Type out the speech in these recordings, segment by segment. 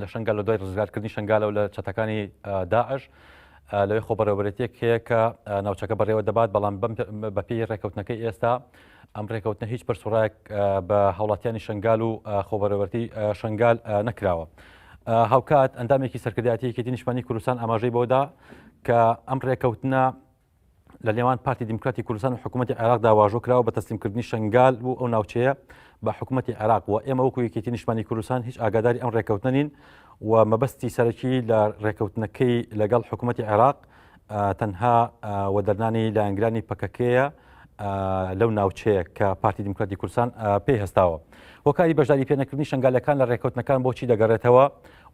لە شنگال لە دوای ڕزگارکردنی شنگالەوە لە چەتەکانی داعش لەوێ خۆبەرەوەرێتێک هەیە کە ناوچەکە بەڕێوە دەبات بەڵام بەپی ڕێککەوتنەکەی ئێستا ئەم ڕێککەوتنە هیچ پرسڕایەک بە هاوڵاتیانی شنگال و خۆبەرەوەرتی شنگال نەکراوە. هاوکات ئەندامێکی سەرکردایەتیەکی دینیشمانی کوردستان ئاماژەی بۆدا کە ئەم ڕێککەوتنە لە نێوان پارتی دیموکراتی کوردستان و حکوومەتتی عێراقدا واژۆ کراوە بە تەسلیمکردنی شنگال بوو ئەو ناوچەیە بە حکوومەتتی عێراق و ئێمە وەکو یەکێتی نیشمانی کوردستان هیچ ئاگاداری ئەم ڕێککەوتنە نین و مەبەستی سەرەکی لە ڕێککەوتنەکەی لەگەڵ حکوومەتتی عێراق تەنها وەدەرنانی لایەنگرانی پەکەکەیە لەو ناوچەیە کە پارتی دیموکراتی کورسان پێی هەستاوە هۆکاری بەشداری پێنەکردنی شنگالەکان لە ڕێککەوتنەکان بۆچی دەگەڕێتەوە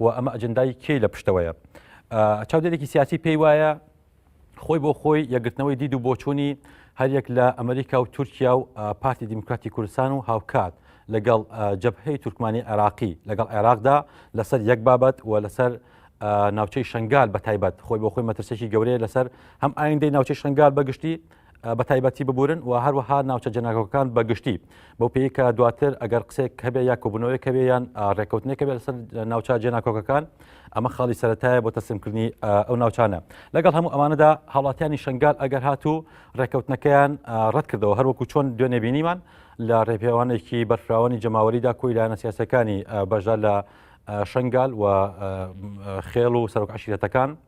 و ئەمە ئەجندای کێ لە پشتەوەیە چاودێرێکی سیاسی پێی وایە خۆی بۆ خۆی یەگرتنەوەی دید و بۆچوونی هەریەک لە ئەمریکا و تورکیا و پارتی دیموکراتی کوردستان و هاوکات لەگەڵ جەبهەی تورکمانی عێراقی لەگەڵ عێراقدا لەسەر یەک بابەت و لەسەر ناوچەی شنگال بە تایبەت خۆی بۆ خۆی مەترسێکی گەورەیە لەسەر هەم ئایندەی ناوچەی شنگال بەگشتی بەتایبەتی ببورن و هەروەها ناوچە جەناکۆکان بە گشتی بەو پێی کە دواتر ئەگەر قسێک هەبێ یا کۆبوونەوەی کەوێ یان ڕێککەوتنێکە بێت لەسەر ناوچە جێناکۆکەکان ئەمە خاڵی سەتایە بۆ تەسمکردنی ئەو ناوچانە لەگەڵ هەموو ئەمانەدا هاوڵاتیانی شنگال ئەگەر هاتوو ڕێککەوتنەکەیان ڕەت کردەوە هەروەکو چۆن دوێنێ بینیمان لە ڕێپێوانێکی بەرفراوانی جەماوەریدا کۆی لایەنە سیاسەکانی بەشدا لە شنگال و خێڵ و سەرۆک عشیرەتەکان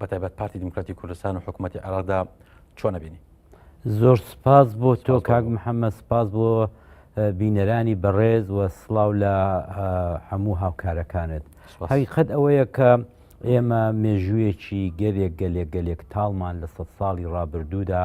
بەتایبەت پارتی دیموکراتی کوردستان و حکوومەتی عێراقدا چۆن نەبینی زۆر سپاس بۆ تۆ کاک محەممە سپاس بۆ بینەرانی بەڕێز و سلااو لە هەموو هاوکارەکانت حقیقت ئەوەیە کە ئێمە مێژوویەکی گەلێک گەلێک گەلێک تاڵمان لە سە ساڵی ڕابردوودا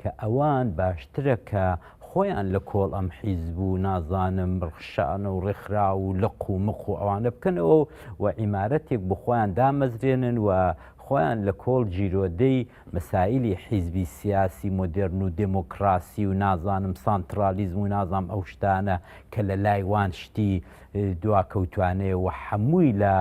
کە ئەوان باشترە کە خۆیان لە کۆڵ ئەم حیزب و نازانم ڕخشانە و ڕێکخراو و لق و مق و ئەوانە بکەنەوە و ئیمارەتێک بۆ خۆیان دامەزرێنن و خۆیان لە کۆڵ جیرۆدەی مەسایلی حیزبی سیاسی مۆدێرن و دێمۆکڕاسی و نازانم سانتڕالیزم و نازانم ئەو شتانە کە لە لای وان شتی دواکەوتوانەیە و هەمووی لە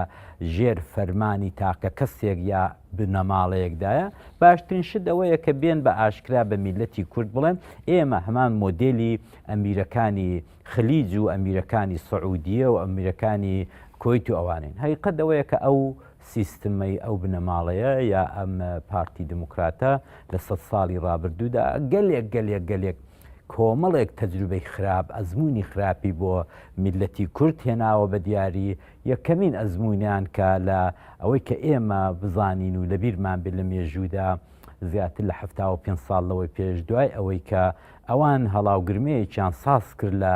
ژێر فەرمانی تاکە کەسێک یا بنەماڵەیەکدایە، باشترین شت ئەوەیە کە بێن بە ئاشکرا بە میللەتی کورد بڵێن ئێمە هەمان مۆدێلی ئەمیرەکانی خلیج و ئەمیرەکانی سعودیە و ئەمیرەکانی کوەیت و ئەوانەین. هەقیقەت ئەوەیە کە ئەو سیستمەی ئەو بنەماڵەیە یا ئەم پارتی دیموکراتە لە سەد ساڵی ڕابردوودا گەلێک گەلێک گەلێک کۆمەڵێک تەجروبەی خراپ، ئەزموونی خراپی بۆ میللەتی کورد هێناوە بە دیاری، یەکەمین ئەزموونیان کە لە ئەوەی کە ئێمە بزانین و لەبیرمان بێت لە مێژوودا زیاتر لە حەفتا و پێنج ساڵ لەوەی پێش دوای ئەوەی کە ئەوان هەڵاوگرمەیەکیان ساز کرد لە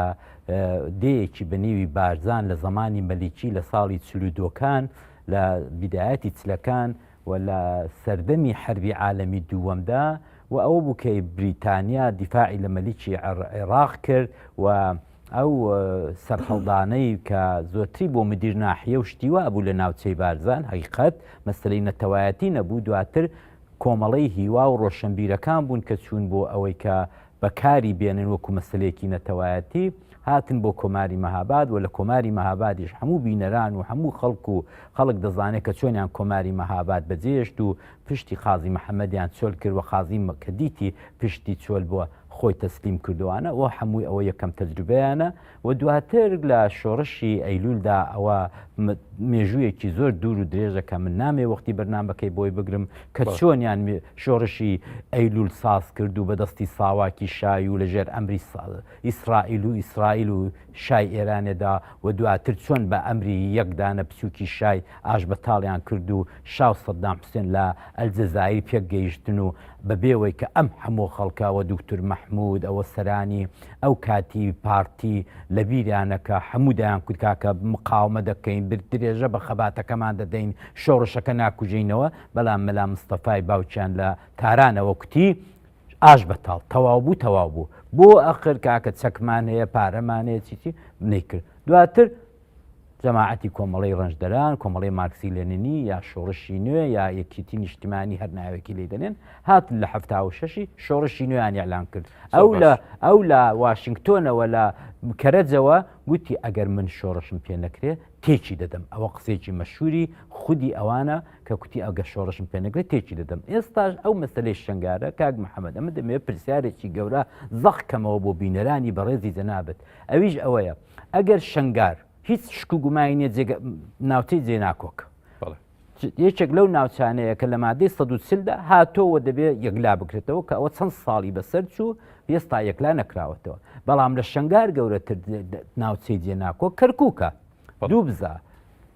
دێیەکی بە نیوی بارزان لە زەمانی مەلیکی لە ساڵی چلودۆکان لە بیدایەتی چلەکان و لە سەردەمی حربی عالەمی دووەمدا و ئەوە بوو کە بریتانیا دیفاعی لە مەلیکی عێراق کرد و ئەو سەرهەڵدانەی کە زۆتری بۆ مدیر ناحیە و شتی وا بوو لە ناوچەی بارزان حقیقەت مەسلەی نەتەوایەتی نەبوو دواتر کۆمەڵەی هیوا و ڕۆشنبیرەکان بوون کە چوون بۆ ئەوەی کە بەکاری بێنن وەکو مەسلەیەکی نەتەوایەتی هاتن بۆ کۆماری مەهاباد و لە کۆماری مەهابادیش هەموو بینەران و هەموو خەڵک و خەڵک دەزانێت کە چۆنیان کۆماری مەهاباد بەجێشت و پشتی قازی محەممەدیان چۆل کرد و قازی کە دیتی پشتی چۆل بووە خۆی تەسلیم کردوانە و هەمووی ئەوە یەکەم تەجروبەیانە و دواتر لە شۆڕشی ئەیلولدا ئەوە مێژوویەکی زۆر دوور و درێژە کە من نامێ وەختی بەرنمەکەی بۆی بگرم کە چۆنیان شۆڕشی ئەیلول ساز کرد و بەدەستی ساواکی شای و لەژێر ئەمری ئیسرائیل و ئیسرائیل و شای ئێرانێدا و دواتر چۆن بە ئەمری یەک دانە بچووکی شای ئاشبەتاڵیان کرد و شا و سەدام حوسێن لە ئەلجەزایر پێک گەیشتن و بە بێوەی کە ئەم هەموو خەڵکە و دوکتور مەحموود و سەرانی ئەو کاتی پارتی لە بیریان نەکا هەموو دەیان کوت کاکە مقاومە دەکەین بر درێژە بە خەباتەکەمان دەدەین شۆڕشەکە ناکوژێینەوە بەڵام مەلا مستەفای باوکیان لە تارانەوە کوتی ئاش بەتاڵ تەواو بوو تەواو بوو بۆ ئەخر کاکە چەکمان هەیە پارەمان هەیە چیچی نەیکرد دواتر جەماعەتی کۆمەڵی ڕنجدەران کۆمەڵی مارکسی لێننی یا شۆڕشی نوێ یا یەکیتی نیشتمانی هەر ناوێکی لی دەنێن هات لە هەفتاوشەشی شۆڕشی نوێیان یاعلان کرد ئەو لە ئەو لە واشنگتۆنەوە لە کەرەجەوە گوتی ئەگەر من شۆڕشم پێ نەکرێ تێکی دەدەم ئەوە قسێکی مەشوری خودی ئەوانە کە کوتی ئەگەر شۆڕشم پێ نەکرێت تێکی دەدەم ئێستاش ئەو مەسلەی شنگارە کاک محەممەد ئەمە دەمێ پرسیارێکی گەورە زەق کەمەوە بۆ بینەرانی بەڕێزی جەنابەت ئەویش ئەوەیە ئەگەر شنگار هیچ شک و گومانی نیە ناوچەی جێناکۆک یەکێک لەو ناوچانەیە کە لە مادەی سەدوچلدا هاتۆوە دەبێت یەکلا بکرێتەوە کە ئەوە چەند ساڵی بەسەر چوو پێستا یەکلا نەکراوەتەوە بەڵام لە شنگار گەورەتر ناوچەی جێناکۆ کەرکووکە دوو بزە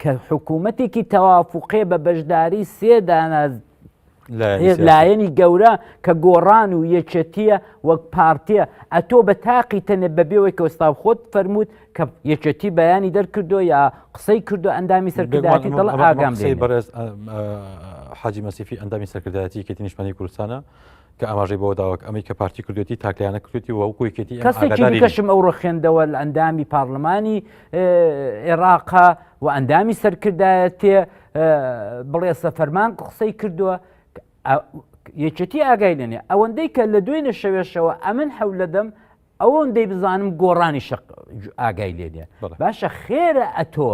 کە حکوومەتێکی تەوافقێ بە بەشداری سێ دانا لایەنی گەورە کە گۆڕان و یەکێتیە وەک پارتە ئەتۆ بە تاقی تەنێ بەبێەوەی کەۆستا خۆت فەرمووت کە یەکێتی بەیانی دەرکردو یا قسەی کردو ئەندامی سەرکرداتی دڵ ئاگام بەڕێز حاجی مەسیفی ئەندامی سەرکردایەتی کەتی نیشتمانی کوردستانە کە ئاماژەی بەوە داوەک ئەمەی کە پارتی کردێتی تاکلایەنە کردێتی و وەکو یەکێتی ئێمە کەسێکی ئاگادارین. دیکەشم ئەو ڕخێندەوە لە ئەندامی پارلمانی اه، عێراقا و ئەندامی سەرکردایەتێ اه، بڵێ سەفەرمان قسەی کردووە کە ئە- یەکێتی ئاگای لێنێ ئەوەندەی کە لە دوێنێ شەوێشەوە ئەمن حەول لەدەم ئەوەندەی بزانم گۆڕانی شق ئاگای لێنێ بەڵێ. باشە خێرە ئەتۆ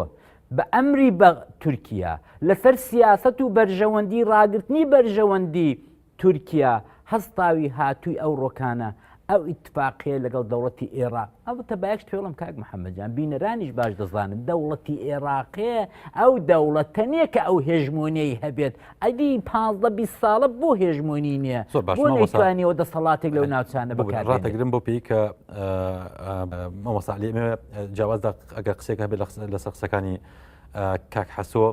بە ئەمری بە تورکیا لەسەر سیاست و بەرژەوەندی ڕاگرتنی بەرژەوەندی تورکیا هەستاوی هاتووی ئەو ڕۆکانە ئەو ئیتفاقیە لەگەڵ دەوڵەتی ئێراق ئەڵبەتە بایەکشت پێڵم کاک محەممەد جان بینەرانیش باش دەزانن دەوڵەتی ئێراقێ ئەو دەوڵەتە نییە کە ئەو هێژمۆنیی هەبێت ئەدی پازدە بی ساڵە بۆ هێژمۆنی نییە زۆر باشوانیەوە دەسەڵاتێک لەو ناوچانە بکاتڕاتەگرم بۆ پێی کە مەمەساعلی جیاواز ئەگە قسێک هەبێت لە سەقسەکانی کاک حەسۆ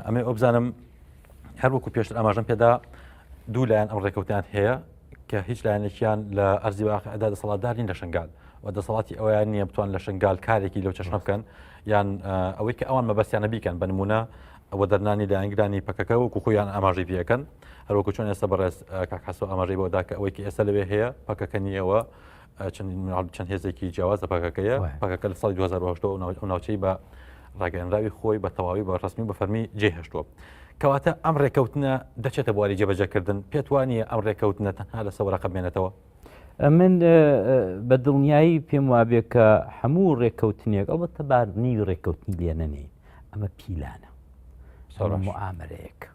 ئەمێ ئۆبزانم هەروەکو پێشتر ئاماژەم پێدا دوو لایەن ئەم ڕێکەوتیان هەیە کە هیچ لایەنێکیان لە ئەرزی واقعدا دەسەڵاتدارین لە شنگال و دەسەڵاتی ئەویان نییە بتوان لە شنگال کارێکی لەو چەشنە بکەن یان ئەوەی کە ئەوان مەبەستیانە بیکەن بە نمونە ئەوە دەرنانی لایەنگرانی پەکەکە وەکو خۆیان ئاماژەی پێەکەن هەروەکو چۆن ئێستا بەڕێز کاکەسۆ ئاماژەی بۆدا کە ئەوەی کە ئێستا لەوێ هەیە پەکەکە نیەوە چەند هێزێکی جیاواز لە پاکەکەیە پاکەکە لە ساڵی 2010 ناوچەی بە ڕاگەنراوی خۆی بە تەواوی بە ڕستمی بە فەرمی جێهشتووە. کەواتە ئەم ڕێکەوتنە دەچێتە بواری جێبەجەکردن پێت وانە ئەم ڕێکەوتنە تەنها لە سەوەرە قەبێنێتەوە. من بە دڵنیایی پێم وابێ کە هەموو ڕێککەوتنێک ئەڵبەتە بارنی ڕێککەوتنی لێنەنێ ئەمە پیلانە سەڕ ئامرەیەک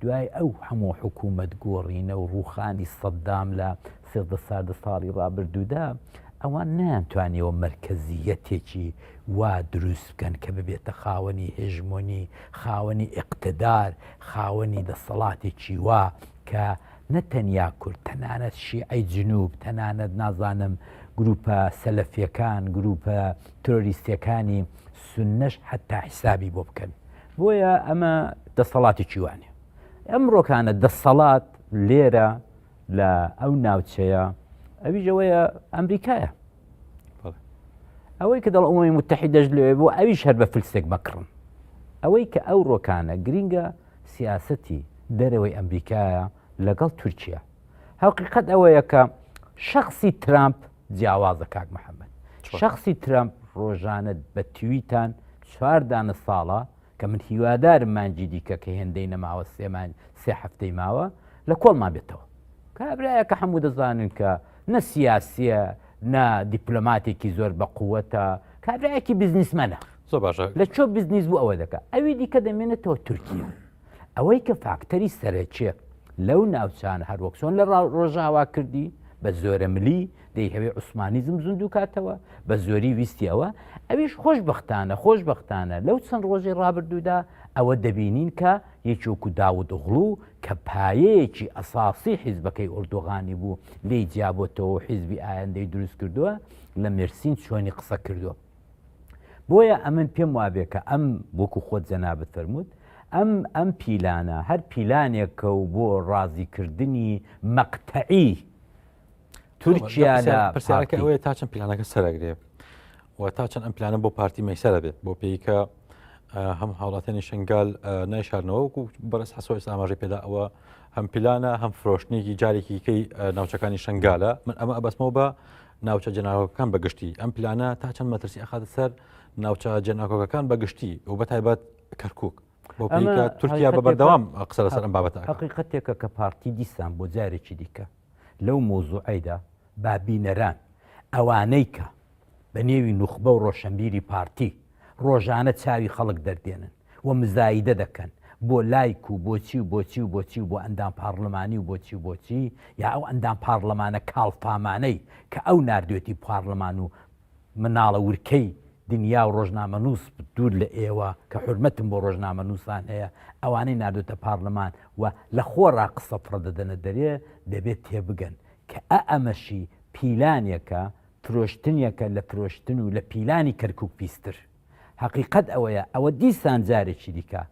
دوای ئەو هەموو حکوومەت گۆڕینە و ڕووخانی سەددام لە سێزدە ساردە ساڵی ڕابردوودا، ئەوان نەیانتوانیەوە مەرکەزییەتێکی وا دروست بکەن کە ببێتە خاوەنی هێژمۆنی، خاوەنی ئیقتدار، خاوەنی دەسەڵاتێکی وا کە نە تەنیا کورد، تەنانەت شیعەی جنووب، تەنانەت نازانم گرووپە سەلەفییەکان، گرووپە ترۆریستییەکانی سوننەش حەتتا حیسابی بۆ بکەن. بۆیە ئەمە دەسەڵاتی چیوانێ ئەمڕۆکانە دەسەڵات لێرە لە ئەو ناوچەیە ئەویژەوەیە ئەمریکایە ئەوەی کە دەڵ ئەوەی متحی دەشت لێ بۆ ئەویش هەر بە فلسێک بکڕن ئەوەی کە ئەو ڕۆکانە گرینگە سیاستی دەرەوەی ئەمریکایە لەگەڵ تورکیا هەقیقت ئەوەیە کە شخصی ترامپ جیاوازە کاک محمد شخصی ترەمپ ڕۆژانە بە تویتان چوار دانە ساڵە کە من هیوادارم مانجی دیکە کە هێندەی نەماوە سێمان سێ هەفتەی ماوە لە کۆڵمان بێتەوە کابراە کە هەموو دەزانن کە نە سیاسیە نە دیپلۆماتێکی زۆر بە قووەتە کابراایەکی بزنسمەە زۆر باشە لە چۆ بزنیز بوو ئەوە دەکە ئەوی دیکە دەمێنێتەوە تورکیا ئەوەی کە فاکتەری سەرەکیە لەو ناوچانە هەروەک چۆن لە ڕۆژاوا کردی بە زۆرە ملی دەیهەوێ عوسمانیزم زیندوو کاتەوە بە زۆری ویستیەوە ئەویش خۆش بەختانە خۆش بەختانە لەو چەند ڕۆژی ڕابردوودا ئەوە دەبینین کە یەکێکو داود غڵو کە پایەیەکی ئەساسی حیزبەکەی ئۆردوغانی بوو لی جیابەتەوە حیزبی ئایندەی دروست کردووە لە مرسین چۆنی قسە کردووە بۆیە ئەمن پێم وابێ کە ئەم وەکو خۆت جەنابت فەرمووت ئەم ئەم پیلانە هەر پیلانێکە و بۆ ڕازیکردنی مەقتەعی تورکیا لە پرسیارەکە ئەوەیە تا چەند پیلانەکە سەرەگرێ و تا چەند ئەم پلانە بۆ پارتی مەسەرە بێت بۆ پێیکە هەم هاوڵاتانی شنگال نایشارنەوە وکو بەرز حسۆ ئێستا ئاماژەی پێدا ئەوە هەم پلانە هەم فرۆشتنێکی جارێکیکەی ناوچەکانی شنگالە من ئەمە ئەبەسمەوە بە ناوچە جەناکۆکەکان بە گشتی ئەم پلانە تا چەند مەترسی ئەخاتە سەر ناوچە جەناکۆکەکان بە گشتی و بە تایبەت کەرکک تورکیا بە بەردەوام قسە لەسەر ئەم بابەت حقیقەتێکە کە پارتی دیسان بۆ جارێکی دیکە لەو مۆزوعیدا بابینەران ئەوانەی کە بە نێوی نوخبە و ڕۆشنبیری پارتی ڕۆژانە چاوی خەڵک دەردێنن و مزایدە دەکەن بۆ لایک و بۆچی و بۆچی و بۆچی و بۆ ئەندام پاڕلمانی و بۆچی و بۆچی یا ئەو ئەندام پاڕلمانە کاڵفامانەی کە ئەو ناردوێتی پاڕلمان و مناڵە ورکەی دنیا و ڕۆژنامەنووس دوور لە ئێوە کە حورمەتم بۆ ڕۆژنامەنووسان هەیە ئەوانەی ناردوێتە پاڕلمان و لە خۆڕا قسە فڕە دەدەنە دەرێ دەبێ تێبگەن کە ئە ئەمەشی پیلانێکە فرۆشتنیەکە لە فرۆشتن و لە پیلانی کەرکوک پیستر. هەقیقەت ئەوەیە ئەوە دیسان جارێکی دیکە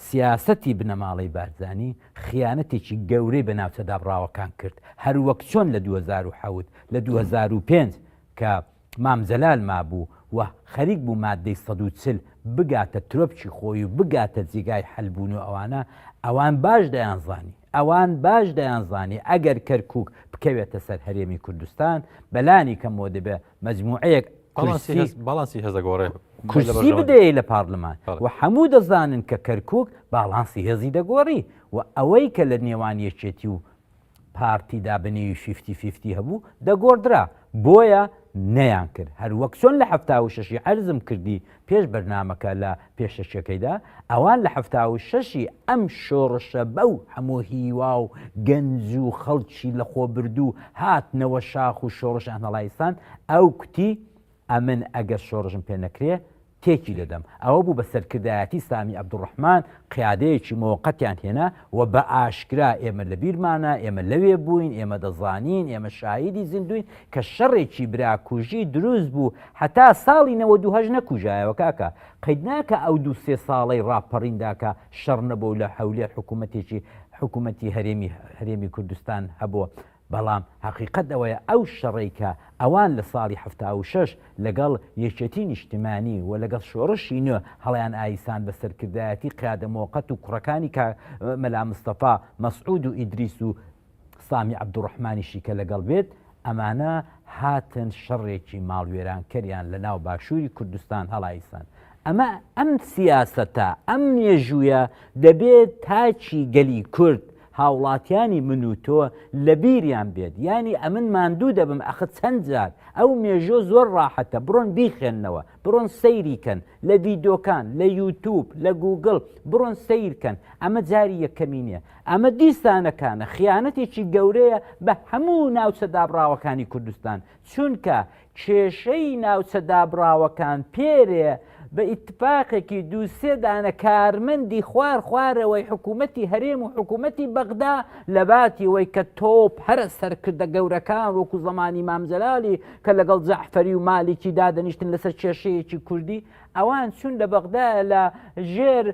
سیاسەتی بنەماڵەی بارزانی خیانەتێکی گەورەی بە ناوچە دابڕاوەکان کرد هەر وەک چۆن لە دوو هەزار و حەوت لە دوو هەزار و پێنج کە مام جەلال مابوو و خەریک بوو مادەی سەد و چل بگاتە ترۆپکی خۆی و بگاتە جێگای حەل بوون و ئەوانە ئەوان باش دەیانزانی ئەوان باش دەیانزانی ئەگەر کەرکووک بکەوێتە سەر هەرێمی کوردستان، بە لانی کەم بۆ دەبێ مەجمووعەیەک کورسی هەس باڵانسی هەزە گۆڕێ کورسی بدەیە لە پارلمان بەڵێ. و هەموو دەزانن کە کەرکووک باڵانسی هێزی دەگۆڕی و ئەوەی کە لە نێوان یەکێتی و پارتیدا بە نێوی فیفتی فیفتی هەبوو دەگۆڕدرا بۆیە نەیانکرد هەر وەک چۆن لە حەفتا و شەشی عەرزم کردی پێش بەرنامەکە لە پێشەکیەکەیدا، ئەوان لە حەفتا و شەش ی ئەم شۆڕشە بەو هەموو هیوا و گەنج و خەڵکی لەخۆبردوو هاتنەوە شاخ و شۆڕش ئەنەڵایزکان، ئەو کوتی، ئەمن ئەگەر شۆڕشم پێ نەکرێ تێکی دەدەم، ئەوە بوو بە سەرکردایەتی سامی عەبدولڕەحمان قیادەیەکی مۆقەتیان هێنا و بە ئاشکرا ئێمە لەبیرمانە، ئێمە لەوێ بووین، ئێمە دەزانین، ئێمە شاهیدی زیندووین، کە شەڕێکی براکوژی دروست بوو هەتا ساڵی نەوەد و هەشت نەکوژایەوە کاکە قەید ناکا ئەو دوو سێ ساڵەی ڕاپەڕیندا کە شەڕ نەبوو لە هەولێر حکومەتێکی حکومەتی هەرێمی هەرێمی کوردستان هەبوو بەڵام هەقیقەت ئەوەیە ئەو شەڕەی کە ئەوان لە ساڵی حەفتا و شەش لەگەڵ یەکێتی نیشتمانی و لەگەڵ شۆڕشی نوێ هەڵیان ئایسان بە سەرکردایەتی قیادە مۆقەت و کوڕەکانی کە مەلا مستەفا مەسعود و ئیدریس و سامی عەبدوڕەحمانیشی کە لەگەڵ بێت، ئەمانە هاتن شەڕێکی ماڵوێرانکەریان لە ناو باشووری کوردستان هەڵایسان. ئەمە ئەم سیاسەتە، ئەم مێژوویە دەبێت تاکی گەلی کورد، هاوڵاتیانی من و تۆ لە بیریان بێت. یانی ئەمن ماندوو دەبم ئەخ چەند جار، ئەو مێژووە زۆر ڕاحەتە، بڕۆن بیخوێننەوە. بڕۆن سەیری کەن لە ڤیدۆکان لە یوتوب لە گوگڵ بڕۆن سەیر کەن ئەمە جاری یەکەمی نییە ئەمە دیسانەکانە خیانەتێکی گەورەیە بە هەموو ناوچە دابڕاوەکانی کوردستان چونکە کێشەی ناوچە دابڕاوەکان پێرێ بە ئیتفاقێکی دووسێدانە کارمەندی خوار خوارەوەی حکوومەتتی هەرێم و حکوومەتتی بەغدا لە باتی وەی کە تۆپ هەرە سەرکردە گەورەکان وەکو زمانی مامجلالی کە لەگەڵ جەعفەری و مالیکی دادەنیشتن لەسەر کێشەیەکی کوردی ئەوان چون لە بەغدا لە ژێر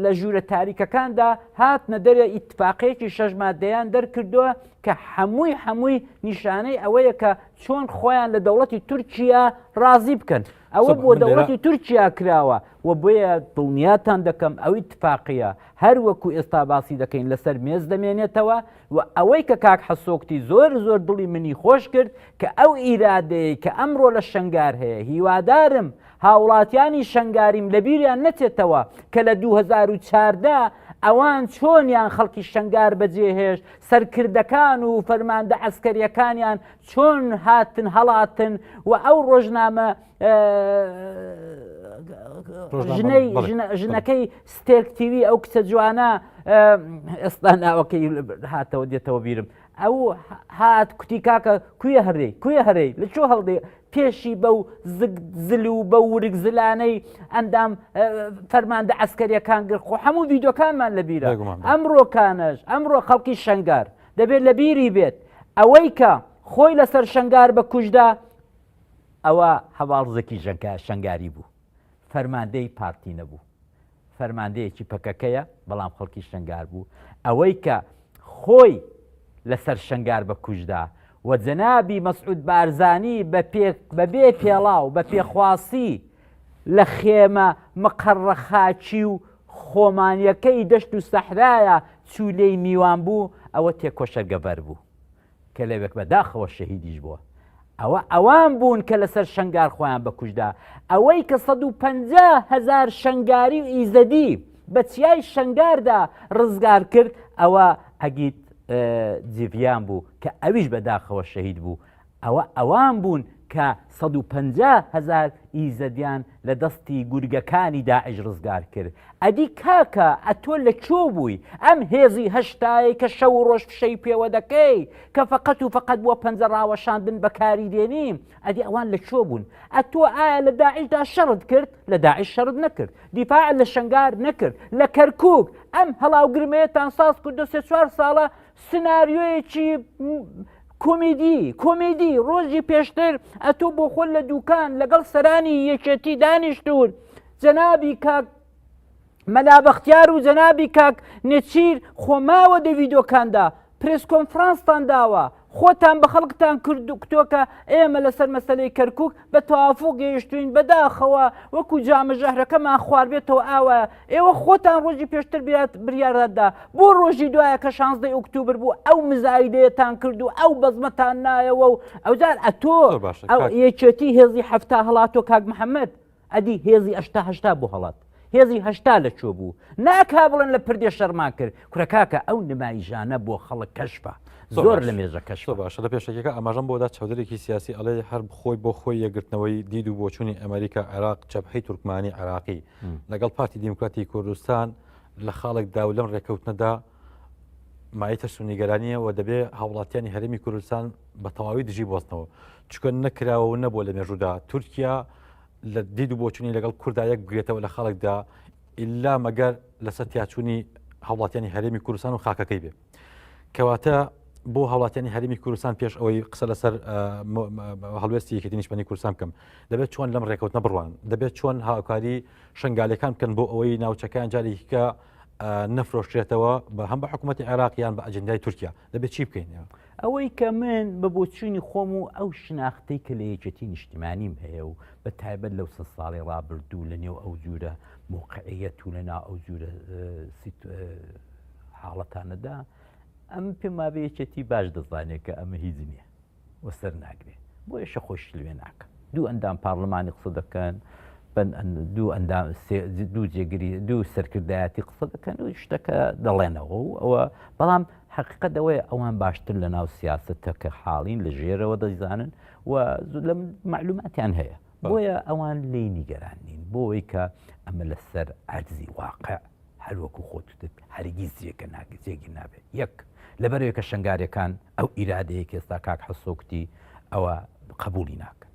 لە ژوورە تاریکەکاندا هاتنە دەرێ ئیتفاقەیەکی شەژ مادەیان دەرکردووە کە هەمووی هەمووی نیشانەی ئەوەیە کە چۆن خۆیان لە دەوڵەتی تورکیا ڕازی بکەن ئەوە بۆ دەوڵەتی تورکیا کراوە و بۆیە دڵنیاتان دەکەم ئەوی تفاقیە هەر وەکو ئێستا باسی دەکەین لەسەر مێز دەمێنێتەوە وە ئەوەی کە کاک حسۆکتی زۆر زۆر دڵی منی خۆش کرد کە ئەو ئیرادەیەی کە ئەمڕۆ لە شەنگار هەیە هیوادارم هاوڵاتیانی شەنگاریم لە بیریان نەچێتەوە کە لە دوو هەزار و چاردە ئەوان چۆنیان خەڵکی شەنگار بەجێهێشت سەرکردەکان و فەرماندە عەسکەریەکانیان چۆن هاتن هەڵاتن و ئەو ڕۆژنامە ژنەی ژنەکەی ستێکتیوی ئەو کچە جوانە ئێستا ناوەکەی هاتەوە دێتەوە بیرم ئەو هات کوتی کاکە کوێ هەرێ کوێ هەرێ لە چۆ هەڵدێ پێشی بەو زل و بە ورگ زلانەی ئەندام فەرماندە ئەسکەریەکان گر خۆ هەموو ویددیوکانمان لە بیرە ئەمڕۆکانش ئەمڕۆ خەڵکی شنگار دەبێت لە بیری بێت ئەوەی کە خۆی لەسەر شنگار بە کوشدا ئەوا هەڤاڵ زەکی ژەنکە شەنگاری بوو، فەرماندەی پارتی نەبوو، فەرماندەیەکی پەکەکەیە، بەڵام خەڵکی شەنگار بوو، ئەوەی کە خۆی لە سەر شەنگار بە کووژ دا و جەنابی مەسعود بارزانی بە پێک بە بێ پێڵاو بە پێخواسی لە خێمە مقەڕە خاکی و خۆمانیەکەی دەشت و سەحرایە چوو لێی میوان بوو، ئەوە تێکۆشەرگە بەر بوو. کە لەوێک بە داخەوە شەهیدیش بووە ئەوە ئەوان بوون کە لەسەر شنگار خۆیان بەکوشدا ئەوەی کە 150 هزار شنگاری و ئیزەدی بە چیای شنگاردا ڕزگار کرد ئەوە ئەگیت جیڤیان بوو کە ئەویش بەداخەوە شەهید بوو ئەوە ئەوان بوون کە سەد و پەنجا هەزار ئیزەدیان لە دەستی گورگەکانی داعش ڕزگار کرد ئەدی کاکە ئەتۆ لە کۆ بووی ئەم هێزی هەشتایی کە شەو و ڕۆژ فشەی پێوە دەکەی کە فقەت و فقەت بۆ پەنجە ڕاوەشاندن بەکاری دێنیم ئەدی ئەوان لە کۆ بوون ئەتۆ ئایا لە داعشدا شەڕت کرد لە داعش شەرت نەکرد دیفاع لە شنگار نەکرد لە کەرکک ئەم هەڵاوگرمەیەتان ساز کردو سێ چوار ساڵە سناریۆیەکی کۆمیدی کۆمیدی ڕۆژی پێشتر ئەتۆ بۆ خۆل لە دوکان لەگەڵ سەرانی یەکێتی دانیشتون جەنابی کاک مەلا بەختیار و جەنابی کاک نێچیر خۆماوە دە ڤیدۆکاندا پرس کۆنفرانستان داوە خۆتان بە خەڵکتان کردوکتۆکە ئێمە لەسەر مەسلەی کەرکک بە تەوافق گەیشتوین بەداخەوە وەکو جامە ژەهرەکەمان خواردبێتەوە ئاوا ئێوە خۆتان ڕۆژی پێشتر بیات بریارەتدا بۆ ڕۆژی دوایە کە شانزدەی ئۆکتوبر بوو ئەو مزایدەیەتان کرد و ئەو بەزمەتان نایەوە و ئەوجار ئەتۆ زۆر باشە ئەو کاک یەکێتی هێزی هەفتا هەڵاتۆ کاک محەممەد ئەدی هێزی ئەشتا هەشتا بۆ هەڵات هێزی هەشتا لە چۆ بوو ناکا بڵێن لە پردێ شەرمان کرد کورەکاکە ئەو نمایژانە بۆ خەڵک کەشفە زۆر لە مێژە کەش باشە لە پێشەکەەکە ئەماژەم بۆدا چودرێکی سیاسی ئەڵێ هەر بخۆی بۆ خۆی یەگرتنەوەی دید و بۆچوونی ئەمریکا عێراق چەپحی تورکمانی عراقی لەگەڵ پارتی دیموکراتی کوردستان لە خاڵک داو لەم ڕێککەوتنەدا مایتە سونیگەرانیە و دەبێ هاوڵاتیانی هەرمی کوردستان بە تەواوی دژی بۆستنەوە چکە نەکراوە و نەبوو لە مێژودا تورکیا لە دید و بۆچوونی لەگەڵ کوردا یەک بگرێتەوە لە خەڵکدا ئللا مەگەر لەسەر تیاچوونی هەوڵاتیانی هەرێمی کوردستان و خاکەکەی بێ کەواتە بۆ هەوڵاتیانی هەرمی کوردستان پێش ئەوەی قسە لەسەر هەڵوێستی یەکێتی نیشتمانی کوردستان بکەم دەبێت چۆن لەم ڕێکوتنە بڕوان دەبێت چۆن هاوکاری شنگالەکان بکەن بۆ ئەوەی ناوچەکان جارێکیکە نەفرۆشتێتەوە بە هەم بە حکوومەتتی عێراقیان بە ئەجندای تورکیا دەبێت چی بکەین ئەوەی کە من بە بۆچوونی خۆم و ئەو شناختی کە لە یەکێتی نیشتیمانیم هەیە و بە تایبەت لەو سە ساڵی ڕابردوو لە نێو ئەو جوورە موقعەت و لەنا ئەو جوورە حاڵەتانەدا ئەم پێمابێ یەکێتی باش دەزانێت کە ئەمە هیچ نییە و سەر ناگرێ بۆیە شە خۆی شت لوێ ناکە دوو ئەندام پارلمانی قسە دەکەن دوو ئەندام دوو جێگری دوو سەرکردایەتی قسە دەکەن و شتەکە دەڵێنەوە و ئەوە بەڵام حقیقە دەوەیە ئەوان باشتر لە ناو سیاستە کە حاڵین لە ژێرەوە دەیزانن و لە معلوماتیان هەیە بۆیە ئەوان لی نیگەران نین بۆەوەی کە ئەمە لەسەر عەرزی واقع هەر وەکو خۆت وتت هەرگیز جێگە ناگرێت جێگیر نابێت یەک لەبەرەوەی کە شەنگاریەکان ئەو ئیرادەیە کە ئێستا کاک حەسۆ کوتی ئەوە قبولی ناکەن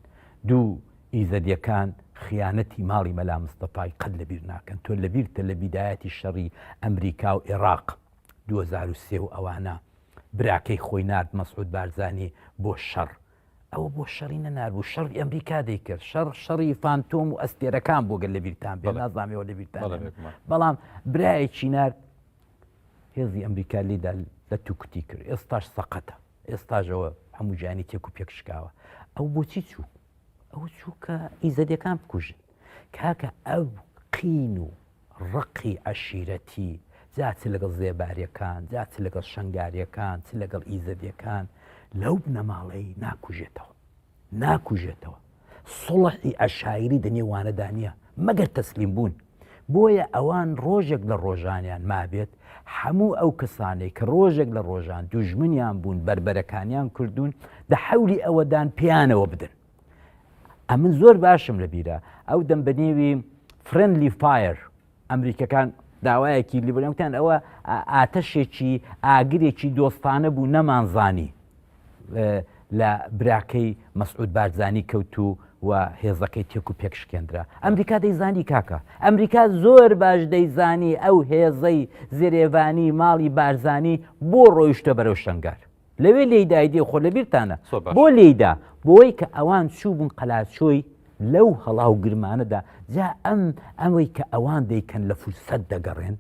دوو ئیزەدیەکان خیانەتی ماڵی مەلا مستەفای قەت لەبیر ناکەن تۆ لەبیرتە لە بیدایەتی شەڕی ئەمریکا و عێراق 2023 و ئەوانە براکەی خۆی نرد مەسعود بارزانانی بۆ شەڕ ئەوە بۆ شەڕی نەناربوو شەڕی ئەمریکا دەیکرد شەڕ شەڕی فانتۆم و ئەستێرەکان بۆ گەل لە بیرتان بێ نازانامەوە لە بیرتان بەڵام برایە چینار هێزی ئەمریکا لیدا لە توکتی کرد ئێستاش سەقەتە ئێستاژەوە هەموو جانی تێک و پێکشکاوە ئەو بۆچی چوو ئەو چووکە ئیزەدەکان بکوژن کاکە ئەو قین و ڕقی عەشیرەتی جا چ لەگەڵ زێباریەکان جا چ لەگەڵ شەنگاریەکان چ لەگەڵ ئیزەدیەکان لەو بنەماڵەی ناکوژێتەوە ناکوژێتەوە سڵحی عەشایری دەنێ وانەدا نییە مەگەر تەسلیم بوون بۆیە ئەوان ڕۆژێک لە ڕۆژانیان مابێت هەموو ئەو کەسانەی کە ڕۆژێک لە ڕۆژان دوژمنیان بوون بربەرەکانیان کردوون دە حەولی ئەوەدان پیانەوە بدەن ئەمن زۆر باشم لە بیرە ئەو دەم بە نێوی فرندلی فایر ئەمریکەکان داوایەکی لیبرەکان ئەوە ئاتەشێکی ئاگرێکی دۆستانە بوو نەمانزانی لە براکەی مەسعود بارزانانی کەوت و و هێزەکەی تێک و پێک شکێنرا ئەمریکا دەیزانی کاکە ئەمریکا زۆر باش دەیزانی ئەو هێزەی زرێڤانی ماڵی بارزانی بۆ ڕۆیشتە بەرەو شنگار لەوێ لێدای دێ خۆ لە بیرتانە بۆ لێدا بۆی کە ئەوان چوو بوون قەلاچۆی لەو هەڵا و گرمانەدا جا ئەم ئەمەی کە ئەوان دەیکەن لە فرسەت دەگەڕێن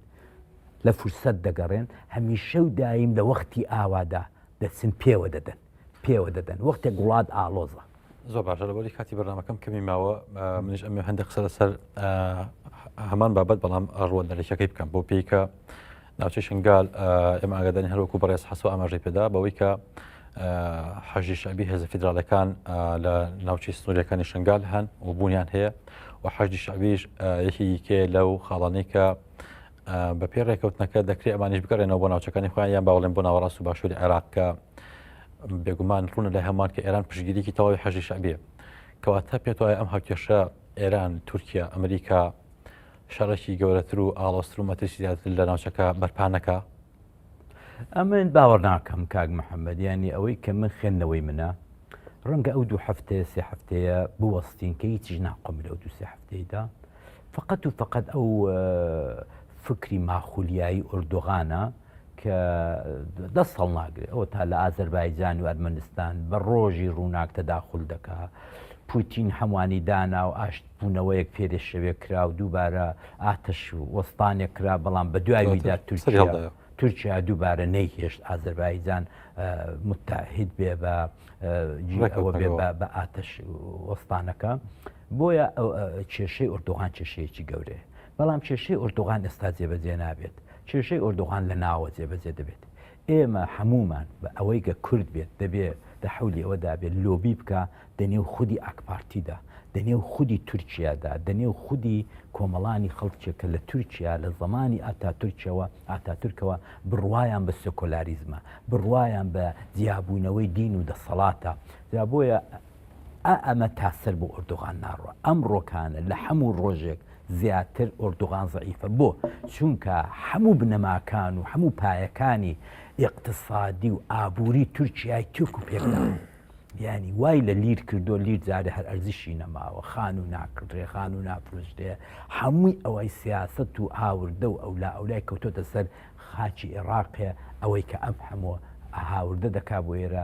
لە فرسەت دەگەڕێن هەمیشە و دایم لە وەختی ئاوادا دەچن پێوە دەدەن پێوە دەدەن وەختێک گوڵات ئالۆزە زۆر باشە لەبەری کاتی بەنامەکەم کەمی ماوە منش ئەمێ هەندێک قسە لەسەر هەمان بابەت بەڵام ئەڕوە دەرەکەی بکەم بۆ پێیکە ناوچەی شنگال ئێمە ئاگادانی هەروەکو بەڕێز حەسو ئاماژەی پێدا بەوەی کە حەژی شەبی هێزە فیدراالەکان لە ناوچەی سنوورەکانی شنگال هەن و بوونیان هەیە و حەژی شەبیش یەکێکێ لەو خاڵانەی کە بە پێی ڕێککەوتنەکە دەکرێت ئەمانیش بگەڕێنەوە بۆ ناوچەکانی خۆیان یان باوەڵێن بۆ ناوەڕاست و باشووری عێراق کە بێگومان ڕوونە لە هەمان کە ئێران پشگیریکی تەواوی حەژی شعبێ کەواتە پێت وایە ئەم هاوکێشە ئێران تورکیا ئەمریکا شەڕێکی گەورەتر و ئاڵۆستر و مەترسی زیاتر لە ناوچەکە بەرپانەکە ئەمن باوەڕ ناکەم کاک محەممەد یانی ئەوەی کە من خوێندنەوەی منە ڕەنگە ئەو دوو هەفتەیە سێ هەفتەیە بوەستین کە هیچیش ناقۆم لەو دو سێ هەفتەیدا فقط و فقط ئەو فکری ماخولیایی ئۆردۆغانە کە دەست هەڵ ناگرێت ئەو تا لە ئازەربایجان و ئەرمەنستان بە ڕۆژی ڕووناک تەداخل دەکا پوتین هەمووانی دانا و ئاشت بوونەوەیەک پێێ شەوێ کرا و دووبارە ئاتەش و وەستانێک کرا بەڵام بە دوایدا تورکیا تورکیا دووبارە نەیهێشت ئازربایجان متتاهید بێ بە بە ئاتەش وەستانەکە بۆیە کێشەی ئۆردوغان کێشەیەکی گەورەیە بەڵام کێشەی ئۆردوغان ئێستا جێبەجێ نابێت کێشەی ئۆردوغان لە ناوە جێبەجێ دەبێت ئێمە هەموومان بە ئەوەی گە کورد بێت دەبێ دە حەولی ئەوە دابێ لۆبی بکا دە نێو خودی ئاکپارتی دا، دە نێو خودی تورکیا دا، دە نێو خودی کۆمەڵانی خەڵکێ کە لە تورکیا لە زەمانی ئاتاتورکەوە ئاتاتورکەوە بڕوایان بە سێکۆلاریزمە، بڕوایان بە جیابوونەوەی دین و دەسەڵاتە. جا بۆیە ئا ئەمە تا سەر بۆ ئۆردوغان ناڕوا ئەم ڕۆکانە لە حەموو ڕۆژێک زیاتر ئۆردوغان زعیفە بۆ چونکە حەموو بنەماکان و حەموو پایەکانی ئقتصادی و ئابووری تورکیای تورک و پێکدا ینی وای لە لیر کردو لیر جارێ هەر ئەرزشی نەماوە خان و ناکڕێ خان و نافرۆشتێ هەمووی ئەوەی سیاست و هاوردە و ئەولا ئەولای کەوتۆتە سەر خاکی ئێڕاقێ ئەوەی کە ئەم حەموە هاوردە دەکا بۆ ئێرە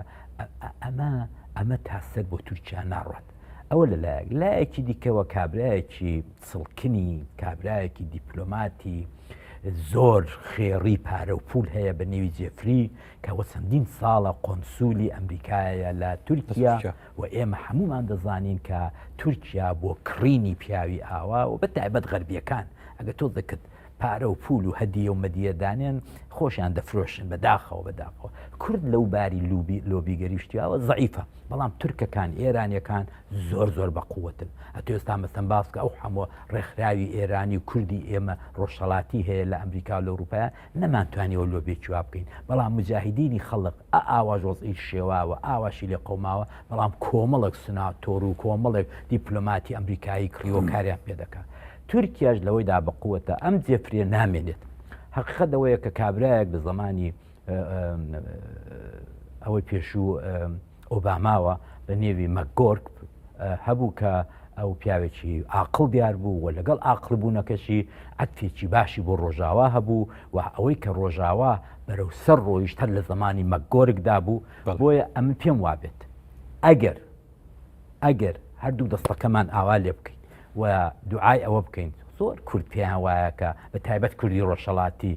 ئەمە ئەمە تا سەر بۆ تورکیا ناڕوات ئەوە لە لایەک لایەکی دیکەوە کابراایەکی سڵکنی کابراایەکی دیپلۆماتی زۆر خێڕی پارە و پول هەیە بە نێوی جێفری کەەوە چەندین ساڵە قۆنسولی ئەمریکایە لە تورکیا و ئێمە هەمومان دەزانین کە تورکیا بۆ کڕینی پیاوی ئاوا و بە تایبەت غەربیەکان ئەگە تۆ دەکرد پارە و پول و هەدیە و مەدیە دانێن خۆشیان دەفرۆشن بە داخەوە بە داخەوە کورد لەو باری لوبی لۆبی گەریشتیاوە زعیفە بەڵام تورکەکان ئێرانیەکان زۆر زۆر بە قوتن ئەتێستا مەسم باسکە ئەو حەموە ڕێکخراوی ئێرانی و کوردی ئێمە ڕۆژهڵاتی هەیە لە ئەمریکا و لەوروپایا نەمانتوانیەوە لۆبێکی وا بکەین بەڵام مجاهدینی خەڵق ئاواژ وەزئی شێواوە ئاواشی لێ قەوماوە بەڵام کۆمەڵک سناتۆر و کۆمەڵێک دیپلۆماتی ئەمریکایی کڕیوە کاریان پێ دەکات تورکیاش لەوەی دا بقوتە ئەم جێفرێ نامێنێت حقیقت دەوەیە کە کابراایەک لە زمانی ئەوەی پێشوو ئۆباماوە بە نێوی مەگۆرک هەبوو کە ئەو پیاوێکی ئاقل دیار بوو و لەگەڵ ئاقل بوونەکەشی ئەتفێکی باشی بۆ ڕۆژاوا هەبوو و ئەوەی کە ڕۆژاوا بەرەو سەر ڕۆیشتەر لە زمانی مەگۆرکدا بوو بۆیە ئەمن پێم وابێت ئەگەر ئەگەر هەردوو دەستەکەمان ئاوا لێ بکەین و دوعای ئەوە بکەین زۆر کورد پێیان وایە کە بە تایبەت کوردی ڕۆژهڵاتی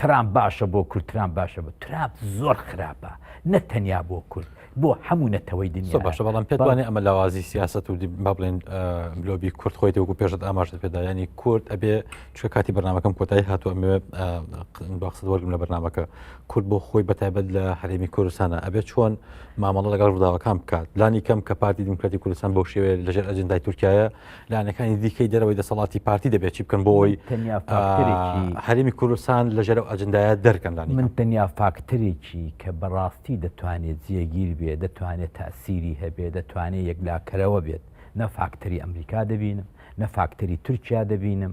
ترام باشە بۆ کورد ترام باشە بە تراب زۆر خراپە نە تەنیا بۆ کورد بۆ هەموو نەتەوەی دنیا باشە بەڵام پێوانێ ئەمە لاوازی سیاست و با بڵێن بلۆبی کورد خۆی وەکو پێشت ئاماژت پێدا ینی کورد ئەبێ چکە کاتی بەنامەکەم کۆتایی هاتووە ئەمێ باخست وەرگم لە بەنامەکە کورد بۆ خۆی بەتایبەت لە هەرێمی کوردستانە ئەبێت چۆن مامەڵە لەگەڵ ڕووداوەکان بکات لانی کەم کە پارتی دیموکراتی کوردستان بۆ شێوێ لەژێر ئەجندای تورکایە لانەکانی دیکەی دەرەوەی دەسەڵاتی پارتی دەبێت چی بکەن بۆی هەرمی کوردستان لەژێر ئەجندایە دەرکەن لانی من تەنیا فاکتەرێکی کە بەڕاستی دەتوانێت جێگیر بێ دەتوانێت تاسیری هەبێ دەتوانێت یەکلاکەرەوە بێت نە فاکتەری ئەمریکا دەبینم نە فاکتەری تورکیا دەبینم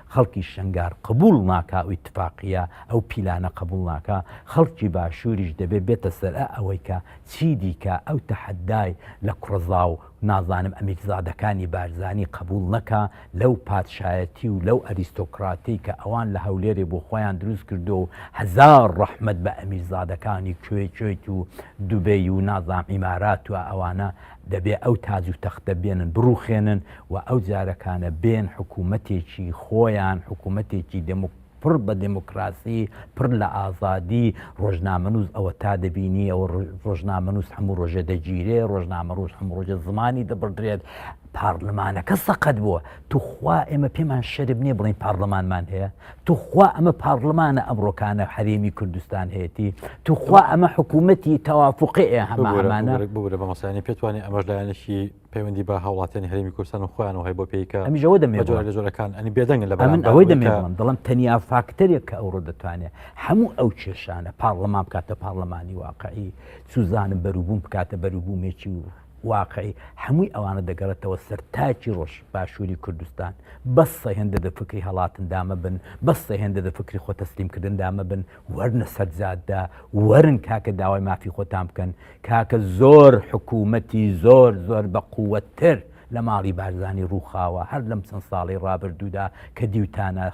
خەڵکی شەنگار قبوڵ ناکا و ئیتفاقیە ئەو پیلانە قبوڵ ناکا، خەڵکی باشووریش دەبێ بێتە سەر ئە ئەوەی کە چی دیکە ئەو تەحەدای لە کوڕەزاو نازانم ئەمیرزادەکانی بارزانی قبوڵ نەکا لەو پادشایەتی و لەو ئەریستۆکڕاتەی کە ئەوان لە هەولێرێ بۆ خۆیان دروست کردووە و هەزار ڕەحمەت بە ئەمیرزادەکانی کوێ کوێت و دوبەی و نازانم ئیمارات و ئەوانە دەبێ ئەو تاج و تەختە بێنن بڕوخێنن و ئەو جارەکانە بێن حکوومەتێکی خۆیان حکوومەتێکی دموکراسی پڕ بە دموکراسی پڕ لە ئازادی ڕۆژنامەنووس ئەوە تا دەبینی ئەوە ڕۆژنامەنووس هەموو ڕۆژێ دەگیرێ ڕۆژنامە ڕۆژ هەموو ڕۆژە زمانی دەبڕدرێت پارلمانەکە سەقەت بووە توخوا ئێمە پێمان شەرم نیە بڵێین پارلەمانمان هەیە توخوا ئەمە پارلمانە ئەمڕۆکانە حەرێمی کوردستان هەیەی توخوا ئەمە حکوومەتی تەوافقێ هەمانە بگرە بە مەسانی پێتوانێت ئەمەش لایەنشی پەیوەندی بە هاوڵاتیان هەرمی کوردستان و خۆیان و هەی بۆ پێیکە ئەمیژەوە دەمێ جۆرە لە جۆرەکان ئەنی بێدەنگ لە من ئەوەی دەمێڵم دڵم تەنیا فاکتەرێک کە ئەوڕۆ دەتوانێت هەموو ئەو کێشانە پاڕلەمان بکاتە پاڕلەمانی واقعی سوزانم بەروبووم بکاتە بەروبوومێکی و واقعی هەمووی ئەوانە دەگەڕێتەوە سەر تاکی ڕۆژ باشووری کوردستان بەس سەهێندە دە فکری هەڵاتن دامە بن بەس سەهێندە دە فکری خۆ تەسلیم کردن دامە بن وەرنە سەرجاددا وەرن کاکە داوای مافی خۆتان بکەن کاکە زۆر حکوومەتی زۆر زۆر بە قووەتر لە ماڵی بارزانی ڕووخاوە هەر لەم چەند ساڵی ڕابردوودا کە دیوتانە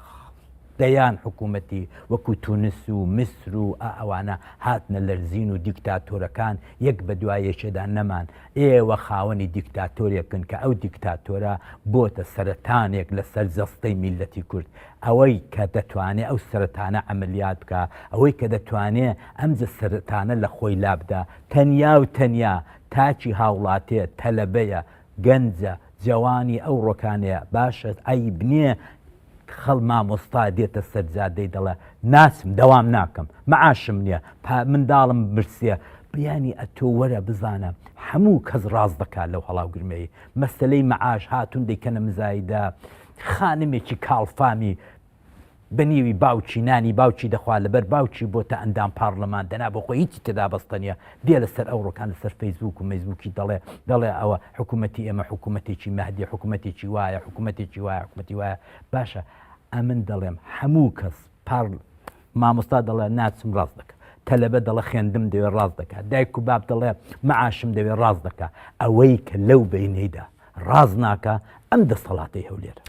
دەیان حکوومەتی وەکوو تونس و میسر و ئا ئەوانە هاتنە لەرزین و دیکتاتۆرەکان یەک بە دوا یەکێدا نەمان، ئێوە خاوەنی دیکتاتۆرێکن کە ئەو دیکتاتۆرە بۆتە سەرەتانێک لە سەر جەستەی میللەتی کورد، ئەوەی کە دەتوانێ ئەو سەرەتانە عەمەلیات بکا، ئەوەی کە دەتوانێ ئەم جە سەرەتانە لە خۆی لا بدا تەنیا و تەنیا تاکی هاوڵاتێ، تەلەبەیە، گەنجە، جەوانی ئەو ڕۆکانەیە، باشە عەیب نییە، خەڵ مامۆستا دێتە سەر جادەی دەڵێ ناچم دەوام ناکەم معاشم نیە پا منداڵم برسیە بیانی ئەتۆ وەرە بزانە حەموو کەس ڕاست دەکات لەو هەڵاو گرمەی مەسەلەی معاش هاتوون دەیکەنە مزایدە خانمێکی کاڵ فامی بە نیوی باوکی نانی باوکی دەخوا لەبەر باوکی بۆتە ئەندام پارلمان دەنا بۆ خۆی هیچی تێدا بەستە نیە دێ لەسەر ئەوڕۆکان لەسەر فەیسبوک و مەیسبوکی دەڵێ دەڵێ ئەوە حکوومەتی ئێمە حکوومەتێکی مەهدی حکوومەتێکی وایە حکوومەتێکی وایە حکوومەتی وایە باشە ئەمن دەڵێم هەموو کەس پار مامۆستا دەڵێ ناچم ڕاست دەکە تەلەبە دەڵە خوێندم دەوێ ڕاست دەکات دایک و باب دەڵێ معاشم دەوێ ڕاست دەکە ئەوەی کە لەو بینەیدا ڕاز ناکە ئەم دەسەڵاتی هەولێرە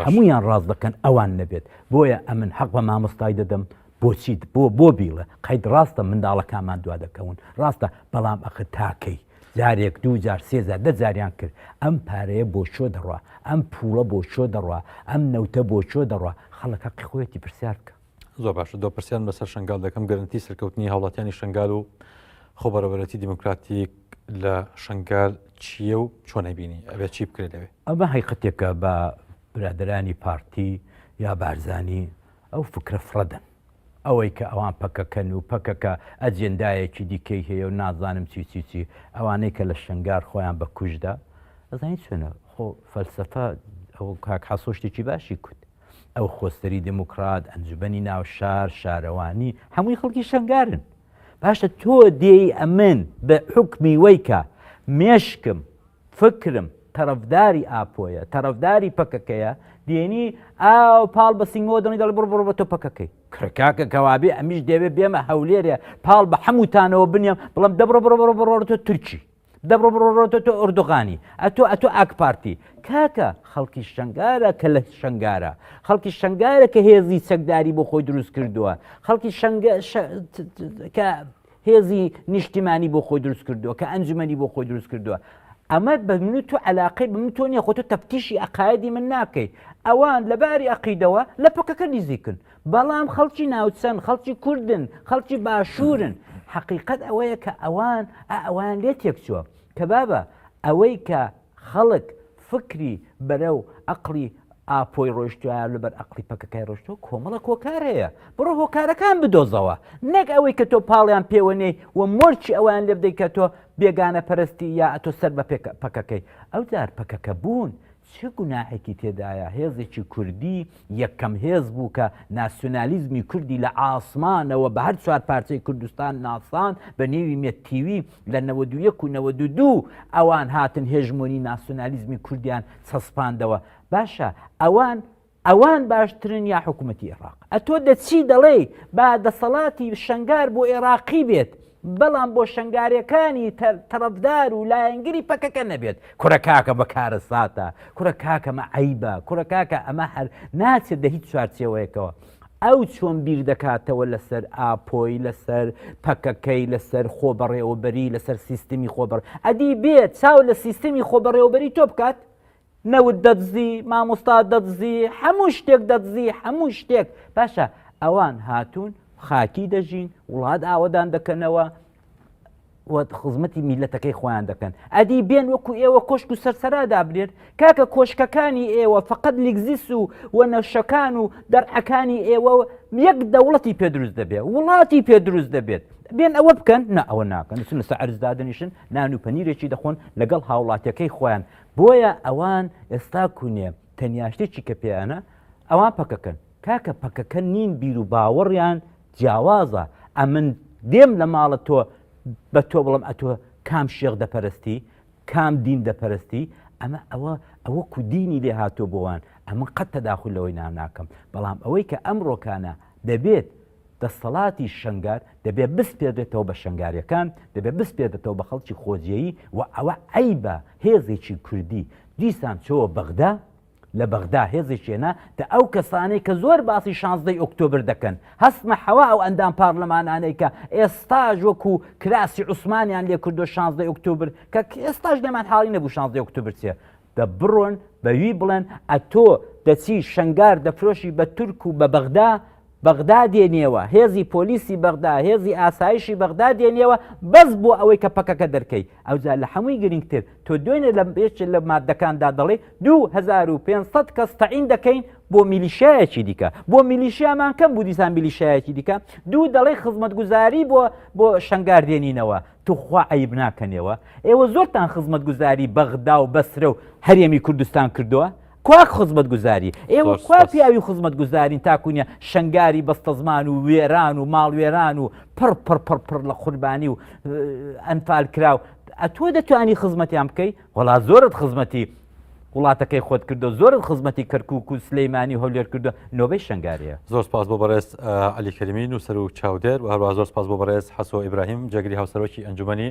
هەمویان ڕاز دەکەن ئەوان نەبێت بۆیە ئەمن حەق بە مامۆستای دەدەم بۆچی بۆ بۆ بیڵە قەید ڕاستە منداڵەکانمان دوا دەکەون ڕاستە بەڵام ئەخ تاکەی جارێک دوو جار سێزار دە جاریان کرد ئەم پارەیە بۆ چۆ دەڕوا ئەم پوڵە بۆ چۆ دەڕوا ئەم نەوتە بۆ چۆ دەڕوا خەڵەکە قیخۆیەتی پرسیار بکە زۆر باشە دۆ پرسیان بەسەر شنگال دەکەم گەرنتی سەرکەوتنی هاوڵاتیانی شنگال و خۆبەرەبەرەتی دیموکراتیک لە شنگال چییە و چۆنە بینی ئەبێ چی بکرێت لەوێ ئەمە هەیقەتێکە بە برادرانی پارتی یا بارزانانی ئەو فکرە فڕە دەن. ئەوەی کە ئەوان پەکەکەن و پەکەکە ئەجێندایەکی دیکەی هەیە و نازانم چی چی چی، ئەوانەی کە لە شنگار خۆیان بە کوژ دا، ئەزانی چۆنە خۆ فەلسەفە، ئەوە کاک حەسۆ شتێکی باشی کوت، ئەو خۆسەری دێموکڕات، ئەنجومەنی ناو شار، شارەوانی، هەمووی خەڵکی شنگارن. باشە تۆ دێی ئەمن بە حوکمی وەی کە مێشکم، فکرم تەرەفداری ئاپۆیە تەرەفداری پەکەکەیە دێنی ئاو پاڵ بە سینگەوە دەڵی دەڵ بڕ بڕ بە تۆ پەکەکەی کرکاکە کەوابێ ئەمیش دەوێ بێمە هەولێرێ پاڵ بە هەمووتانەوە بنیێم بڵم دەبڕ بڕ بڕ بڕۆ تۆ تورکی دەبڕ بڕۆتە تۆ ئۆردوغانی ئەتۆ ئەتۆ ئاکپارتی کاکە خەڵکی شنگارە کە لە شنگارە خەڵکی شنگارە کە هێزی چەکداری بۆ خۆی دروست کردووە خەڵکی شنگە کە هێزی نیشتیمانی بۆ خۆی دروست کردووە کە ئەنجومەنی بۆ خۆی دروست کردووە ئەمە بە من و تو علاقەی بە من تۆ نیە خۆ تۆ تەفتیشی عقایدی من ناکەیت ئەوان لە باری عقیدەوە لە پەکەکە نزیکن بەڵام خەڵکی ناوچەن خەڵکی کوردن خەڵکی باشوورن حقیقت ئەوەیە کە ئەوان ئەوان لێ تێکچووە کە بابە ئەوەی کە خەڵک فکری بەرەو ئەقڵی ئاپۆی ڕۆیشتوە لەبەر ئەقڵی پەکەکای ڕۆشتوە کۆمەڵە کۆکار هەیە بڕۆ هۆکارەکان بدۆزەوە نەک ئەوەی کە تۆ پاڵیان پێوەنێی و مۆرچی ئەویان لێ بدەی کە تۆ بێگانە پەرستی یا ئەتۆ سەر بە پێک پەکەکەی ئەو جار پەکەکە بوون چ گوناحێکی تێدایە هێزێکی کوردی یەکەم هێز بوو کە ناسیۆنالیزمی کوردی لە ئاسمانەوە بە هەر چوار پارچەی کوردستان ناساند بە نێوی مێت تیوی لە نەوەد و یەک و نەوەد و دوو ئەوان هاتن هێژمۆنی ناسیۆنالیزمی کوردیان چەسپاندەوە باشە ئەوان ئەوان باشترن یا حکوومەتی ئێراق ئەتۆ دەچی دەڵێی با دەسەڵاتی شەنگار بۆ ئێراقی بێت بەڵام بۆ شەنگارەکانی تەڕەفدار و لایەنگری پەکەکە نەبێت کورە کاکە بە کارە ساتە کورە کاکەمە عیبە کورە کاکە ئەمە هەر ناچێت دە هیچ چوارچەوەیەکەوە ئەو چۆن بیر دەکاتەوە لەسەر ئاپۆی لەسەر پەکەکەی لەسەر خۆ بەڕێوەبەری لەسەر سیستمی خۆبڕ ئەدی بێت چاو لە سیستمی خۆ بەڕێوەبەری تۆ بکات نەوت دەدزی مامۆستا دەدزی هەموو شتێک دەدزی هەموو شتێک باشە ئەوان هاتوون خاکی دەژین وڵات ئاوەدان دەکەنەوە خزمەتی میلەتەکەی خۆیان دەکەن ئەدی بێن وەکو ئێوە کۆشک و سەرسەرا دابرێت کاکە کۆشکەکانی ئێوە فقط لیگزیس و وەنەشەکان و دەرعەکانی ئێوە یەک دەوڵەتی پێ دروست دەبێت وڵاتی پێ دروست دەبێت بێن ئەوە بکەن نە ئەوە ناکەن سنسە ئەرزدادنیشن نان و پەنیرێکی دەخۆن لەگەڵ هاوڵاتەکەی خۆیان بۆیە ئەوان ئێستا کونێ تەنیا شتێکی کە پێیانە ئەوان پەکەکەن کاکە پەکەکە نین بیر و باوەڕیان جیاوازە ئەمن دێم لە ماڵە تۆ بە تۆ بڵم ئەتۆ کام شێخ دەپەرستی کام دین دەپەرستی ئەمە ئەوە ئەوە کودینی لێ هاتۆ بۆوان ئەمە قەت تەداخل لەوەی ناناکەم بەڵام ئەوەی کە ئەم ڕۆکانە دەبێت دەستەڵاتی شەنگال دەبێ بسپێردرێتەوە بە شەنگالیەکان، دەبێ بسپێردرێتەوە بە خەڵکی خۆجێیی و ئەوە عەیبە هێزێکی کوردی دیسان چۆوە بەغدا، لە بەغدا هێزێکی هێنا دە ئەو کەسانەی کە زۆر باسی شانزدەی ئۆکتۆبر دەکەن هەستمە حەوا ئەو ئەندام پارلمانانەی کە ئێستاش وەکو کراسی عوسمانیان لێ کردوە شانزدەی ئۆکتۆبر کە ئێستاش لێمان حاڵی نەبوو شانزدەی ئۆکتۆبر چیە دە بڕۆن بەوی بڵێن ئەتۆ دەچی شەنگار دەفرۆشی بە تورک و بە بەغدا بەغدا دێنیەوە، هێزی پۆلیسی بەغدا، هێزی ئاسایشی بەغدا دێنیەوە بەس بۆ ئەوەی کە پەکەکە دەرکەی، ئەوجا لە حەمووی گرینگتر تۆ دوێنێ لە یەکێ لە ماددەکاندا دەڵێی دوو هەزار و پێنج سەد کەس تەعین دەکەین بۆ میلیشیایەکی دیکە، بۆ میلیشیامان کەم بوو دیسان میلیشیایەکی دیکە، دوو دەڵێی خزمەتگوزاری بۆ بۆ شەنگار دێنینەوە، توخوا عەیب ناکەنێوە؟ ئێوە زۆرتان خزمەتگوزاری بەغدا و بەسرە و هەرێمی کوردستان کردووە، کوا خزمەت گوزاری ئێوە زۆر کوا سوپاس. پیاوی خزمەت گوزارین تاکوونیە شنگاری بەستەزمان و وێران و ماڵوێران و پڕ پڕ پڕ پڕ لە قوربانی و اه، ئەنفال کراو ئەتۆ دەتوانی خزمەتیان بکەی وەڵا زۆرت خزمەتی وڵاتەکەی خۆت کردو زۆرت خزمەتی کەرکووک و سلەیمانی و هەولێر کردو نۆبەی شنگاریە زۆر سپاس بۆ بەڕێز اه، عەلی کەریمی نووسەر و چاودێر و هەروەها زۆر سپاس بۆ بەڕێز حەسۆ ئیبراهیم جێگری هاوسەرۆکی ئەنجومەنی